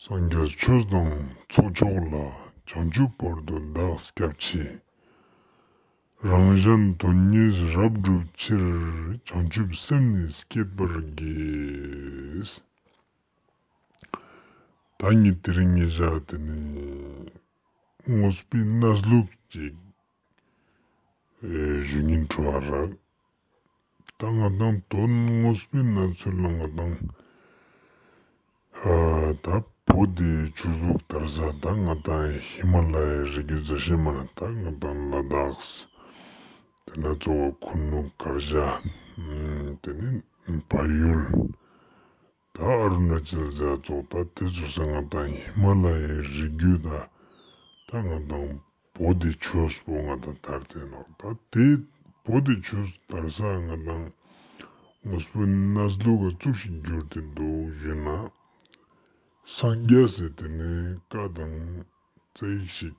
སངས་རྒྱས་ཆོས་བཟང་ཚོགས་མཆོག་ལ་བྱང་ཆུབ་བར་དུ་བདག་སྐྱབས་མཆི། རང་གཞན་དོན་གཉིས་རབ་བསྒྲུབ་ཕྱིར་བྱང་ཆུབ་སེམས་ནི་བསྐྱེད་པར་བགྱིས། བདག་ཉིད་དེ་རིང་ཉིད་བཞག་དེ་ནས་དངོས་སྤི་སྣ་ལུགས་ཅིག། བཞུགས་ཉིན་ཁྲོ་བ་རགས་ད་ང་དང་དོན་དངོས་པོའི་གནས་ཚུལ་གླེང་བ་དང། ད་བོད་དེ་ཆོས་ལུགས་དར་ས་ད་ང་དང་ཧི་མ་ལ་ཡའི་རི་གའི་རྫ་ཤེལ་མ་ད་ང་དང་ལ་དྭགས། དེ་ནས་གཙོ་བོ་ཁུ་ནུ་དཀར་བྱ། དེ་ནས་བལ་ཡུལ། ད་ཨ་རུ་ནཱ་ཅལ་རྫ་ཚོགས་ད་ལྟའི་ཚོ་ས་ང་དང་ཧི་མ་ལ་ཡའི་རི་རྒྱུད་ད་ད་ང་དང་བོ་དེ་ཆོས་བོ་ང་དང་དར་དེ་ནག་ད་དེ་བོ་དེ་ཆོས་དར་ས་ང་དང་ངོས་པོ་ན་སྡུ་ག་བཙུགས་ཤིག་བསྒྱུར་དེ་འདུག་གཞོན་ན་སངས་རྒྱས་ཟེར་དེ་ནས་བཀའ་དང་བརྩེགས་ཤིག།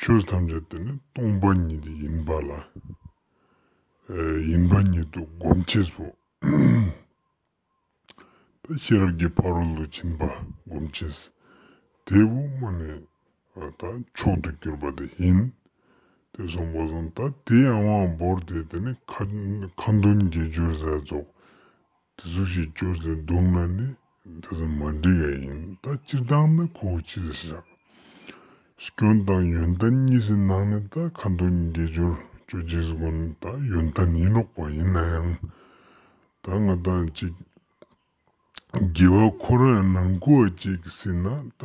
ཆོས་ཐམས་ཅད་དེ་ནི་སྟོང་པ་ཉིད་ཡིན་པ་ལ་ཡིན་པ་ཉིད་དུ་སྒོམ་བྱེད་སོ། དེ་ཤེས་རབ་ཀྱི་ཕ་རོལ་ཏུ་ཕྱིན་པ་སྒོམ་བྱེད། དེའི་དབུ་མ་ནི་དག་མཆོག་ཏུ་གྱུར་པ་དེ་ཡིན། དེ་གསུངས་པ་བཟུང་ད་དེའི་དབང་བོར་ཏེ་དེ་ནི་མཁའ་འདོན་དགེ་སྦྱོར་ཟས་རྫོགས་དེ་ཚོ་ཞིག་སྐྱོར་ཚེ་སྡུག་ན་ནི་དེ་ཚོ་མ་འགྲིག་ཡ་ཡིན་ད་སྤྱིར་བཏང་ནི་ཁོ་བོ་ཅི་ཟེར་བཞག་སྐྱོན་དང་ཡོན་ཏན་གཉིས་ཀྱི་ནང་ནས་ད་ཁ་མདོ་ཉི་རྒྱལ་སྦྱོར་སྤྱོད་རྗེས་སུ་དགོན་ད་ཡོན་ཏན་ཡིན་ལོག་པ་ཡིན་ན་ཡང་ད་ང་ད་ཅིག་རྒྱལ་བ་ཁོ་རང་ཡང་ནང་ཁུལ་བ་ཅིག་ཟིན་ན་ད།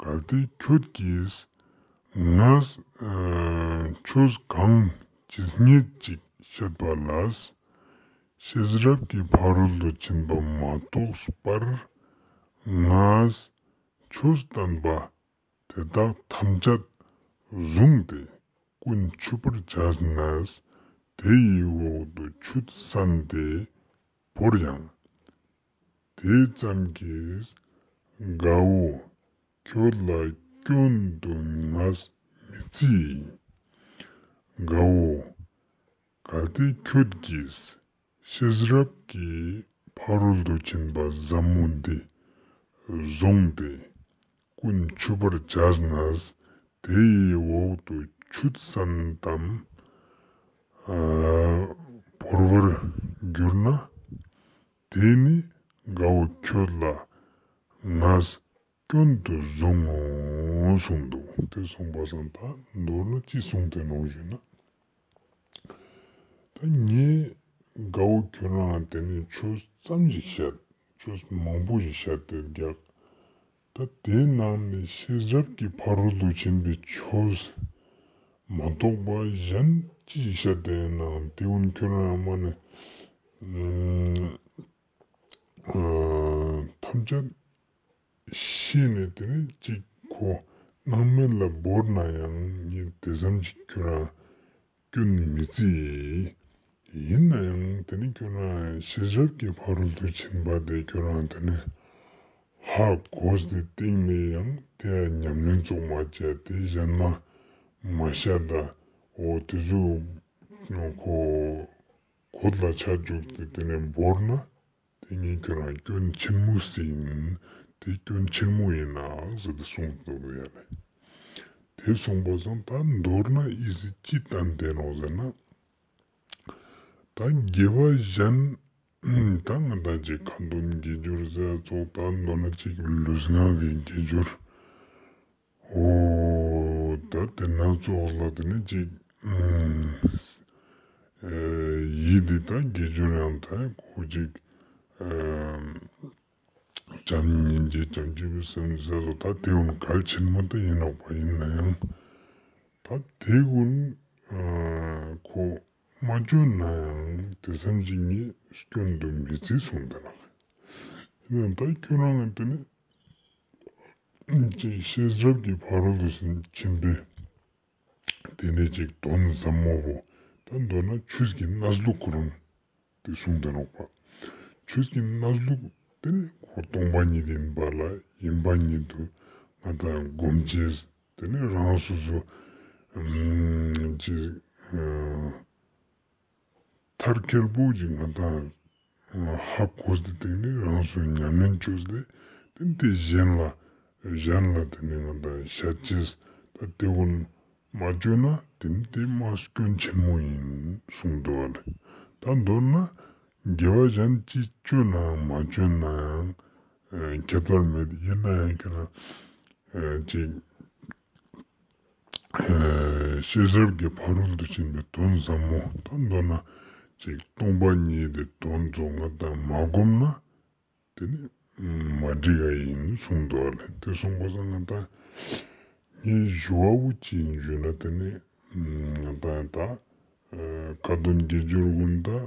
གལ་ཏེ་ཁྱོད་ཀྱིས་ང་ཆོས་གང་ཇི་སྙེད་ཅིག་བཤད་པ་ལ་ཤེས་རབ་ཀྱི་ཕ་རོལ་ཏུ་ཕྱིན་པ་མ་གཏོགས་པར་ང་ཆོས་བསྟན་པ་དེ་དག་ཐམས་ཅད་བཟུང་སྟེ་ཀུན་ཆུད་པར་བྱས་ན་དེ་ཡི་འོག་ཏུ་ཆུ་བསྲན་ཏེ་བོར་ཡང་དེ་ཙམ་གྱིས་དགའ་བོ་ཁྱོད་ལ་སྐྱོན་དུ་ང་མི་བརྩིས། དགའ་བོ། གལ་ཏེ་ཁྱོད་ཀྱིས་ཤེས་རབ་ཀྱི་ཕ་རོལ་ཏུ་ཕྱིན་པ་ཟབ་མོ་འདི་བཟུང་སྟེ་ཀུན་མཆོད་པར་བྱས་ན་དེ་ཡི་འོག་ཏུ་ཆུ་ཙམ་དམ་བོར་བར་འགྱུར་ན། དེས་ནི་དགའ་བོ་ཁྱོད་ལ་ངས་སྐྱོན་དུ་བཟུང་ངོ་གསུངས་འདུག། དེ་གསུངས་པ་བཟང་ད་མདོར་ན་ཅི་གསུངས་དེ་ནོངས་ཞུས་ན། ད་ངས་དགའ་བོ་ཁྱོད་རང་དེ་ནས་ཆོས་བརྩམས་ཤིག་བཤད། ཆོས་མང་པོ་ཞིག་བཤད་དེ་རྒྱག། ད་དེའི་ནང་ནས་ཤེས་རབ་ཀྱི་ཕ་རོལ་ཏུ་ཕྱིན་པའི་ཆོས་མ་གཏོགས་པ་གཞན་ཅི་ཞིག་ཤ་བདེ་ཡིན་ནའང་དེ་ཡང་ཁྱོད་རང་ཡང་མ་ནི། ཐམས་ཅད་ཤེས་ནས་དེ་ནི་གཅིག་གོ། སྣང་མེད་ལ་བོར་ན་ཡང་ཉིད་དེ་བསམ་གྱིས་ཁྱོད་རང། སྐྱོན་ནི་མི་རྩི་ཡིན། ཡིན་ན་ཡང་དེ་ནི་ཁྱོད་རང་ཤེས་རབ་ཀྱི་ཕ་རོལ་ཏུ་ཕྱིན་པ་དེ་ཁྱོད་རང་དེ་ནས་ཧ་གོས་ཏེ་གཏིང་ནས་ཡང་དེ་ལ་ཉམས་ལེན་རྫོགས་མ་བྱས་ཏེ་གཞན་མ་མ་ཤ་ད་འོ་དེ་ཚོས་གོ་གོ་ལ་ཆ་བཅུག་སྟེ་དེ་ནས་འབོར་ན། དེ་གཉིས་ཀྱི་རང་སྐྱོན་ཆེན་མོ་ཟིན། དེ་སྐྱོན་ཆེན་མོ་ཡིན་ན་ཟེར་ཏེ་གསུངས་འདུག་ཡ་རེད། དེ་གསུངས་པ་བཟང་ད་མདོར་ན་དབྱི་སི་ཅི་བསྟན་བདེན་རོགས་ཟེར་ན། ད་རྒྱལ་བ་གཞན་ད་ང་ད་ཅིག་ཁ་འདོམ་རྒྱལ་འབྱོར་ཟེར་ཚོགས་ད་མདོར་ན་ཅིག་ལུས་ངག་གི་རྒྱལ་འབྱོར། ཧོ། ད་དེ་སྣ་ཚོགས་ལ་དེ་ནི་ཅིག། ཡིད་འདི་དག་དགེ་སྦྱོར་ཡང་དག་གོ་ཅིག། བྱམས་སྙིང་རྗེ་བྱམས་སྐྱེས་བུ་སེམས་ཟད་སོགས་ད་དེ་ཀུན་གལ་ཆེན་མ་དག་ཡིན་ནོ་བ་ཡིན་ན་ཡང། ད་དེ་ཀུན་གོ། མ་བཅོལ་ན་ཡང་དེ་སེམས་ཅིག་ཉིད་སྐྱོན་དུ་མི་བརྩི་གསུངས་དེ་ལ་ལས། ཡིན་ན་ད་ཁྱོད་རང་ལ་དེ་ནི་ཅེས་ཤེས་རབ་ཀྱི་ཕ་རོལ་ཏུ་ཕྱིན་པས། དེ་ནས་ཅིག་དོན་ཟབ་མོ་བོ། ད་མདོར་ན་ཆོས་ཀྱི་སྣ་ཟླུག་གོ་རུང་སྟེ་གསུངས་དོན་ལོག་པ། ཆོས་ཀྱི་སྣ་ཟླུག་དེ་ནི་འཁོར་སྟོང་པ་ཉིད་ཡིན་པ་ལ་ཡིན་པ་ཉིད་དུ་ང་དང་སྒོམ་བྱེད་དེ་ནི་རང་སོ་སོ། ཅེས། མཐར་ཁེར་བོགས་ཀྱི་ང་དང། ཧ་གོ་དེ་དེ་ནི་རང་བཟོའི་ཉམས་ལེན་བཅོས་སྟེ་དེ་དེ་གཞན་ལ་གཞན་ལ་དེ་ནི་ང་དང་ཤ་བཅས་ད་དེ་བོ་ནི་མ་བཅོས་ན་དེ་ནི་དེ་མ་སྐྱོན་ཆེན་མོ་ཡིན་གསུངས་འདུག་བ་ལས་ད་མདོར་ན་དགེ་བ་གཞན་ཅི་བཅོས་ནའང་མ་བཅོས་ན་ཡང་ཁྱད་པར་མེད་ཡིན་ན་ཡང་ཁྱེད་རང་ཅིག་ཤེས་རབ་ཀྱི་ཕ་རོལ་ཏུ་ཕྱིན་པའི་དོན་ཟབ་མོ་དང་མདོར་ན་ཅིག་སྟོང་པ་ཉིད་དེ་དོན་རྫོགས་ང་དང་མ་བསྒོམ་ན་དེ་ནི་མ་འགྲིག་ག་ཡིན་གསུངས་འདུག་ཨ་ལས་དེ་སོང་བས་ང་དང་ངའི་གཞུ་བ་བོ་གཅིག་འཇུས་ན་དེ་ནི་ང་དང་ད་ག་དོན་དགེ་སྦྱོར་ཀུན་དང་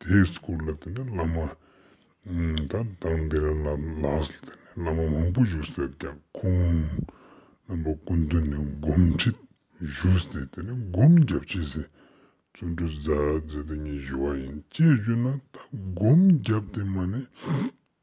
དེའི་སྐོར་ལ་དེ་ནས་བླ་མ་དང་དང་དེ་རིང་ལ་ལགས་སུ་དེ་ནས་བླ་མ་མང་པོ་བཞུགས་སོད་ཀྱ་ཁོང་རྣམ་པ་ཀུན་དུ་ནས་སྒོམ་ཁྲིད་བཞུགས་སྟེ་དེ་ནས་སྒོམ་རྒྱབ་ཕྱི་ཟེར་བཙུན་གྲུ་བཟའ་བཟའ་དེ་གཉིས་བཞུགས་བ་ཡིན་ཅེས་བརྗོད་ན་ད་སྒོམ་རྒྱབ་དེ་མ་ནས།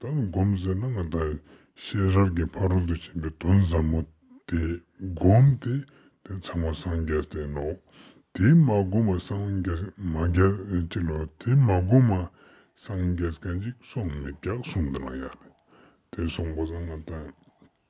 ད་སྒོམ་ཟེར་ན་ང་ད་ཤེས་རབ་ཀྱི་ཕ་རོལ་ཏུ་ཕྱིན་པའི་དོན་ཟབ་མོ་དེ་སྒོམ་སྟེ་དེ་ཚང་མ་སངས་རྒྱས་ཟེར་ནོ། དེ་མ་སྒོམ་པ་སངས་རྒྱས་མ་རྒྱས་ཅི་ལོ་དེ་མ་སྒོམ་པ་སངས་རྒྱས་མཁན་ཅིག་སོང་མི་རྒྱག་གསུངས་འདི་ན་ཡག་རེད་དེ་གསུངས་པ་ད་ང་ད།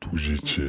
ཐུགས་རྗེ་ཆེ།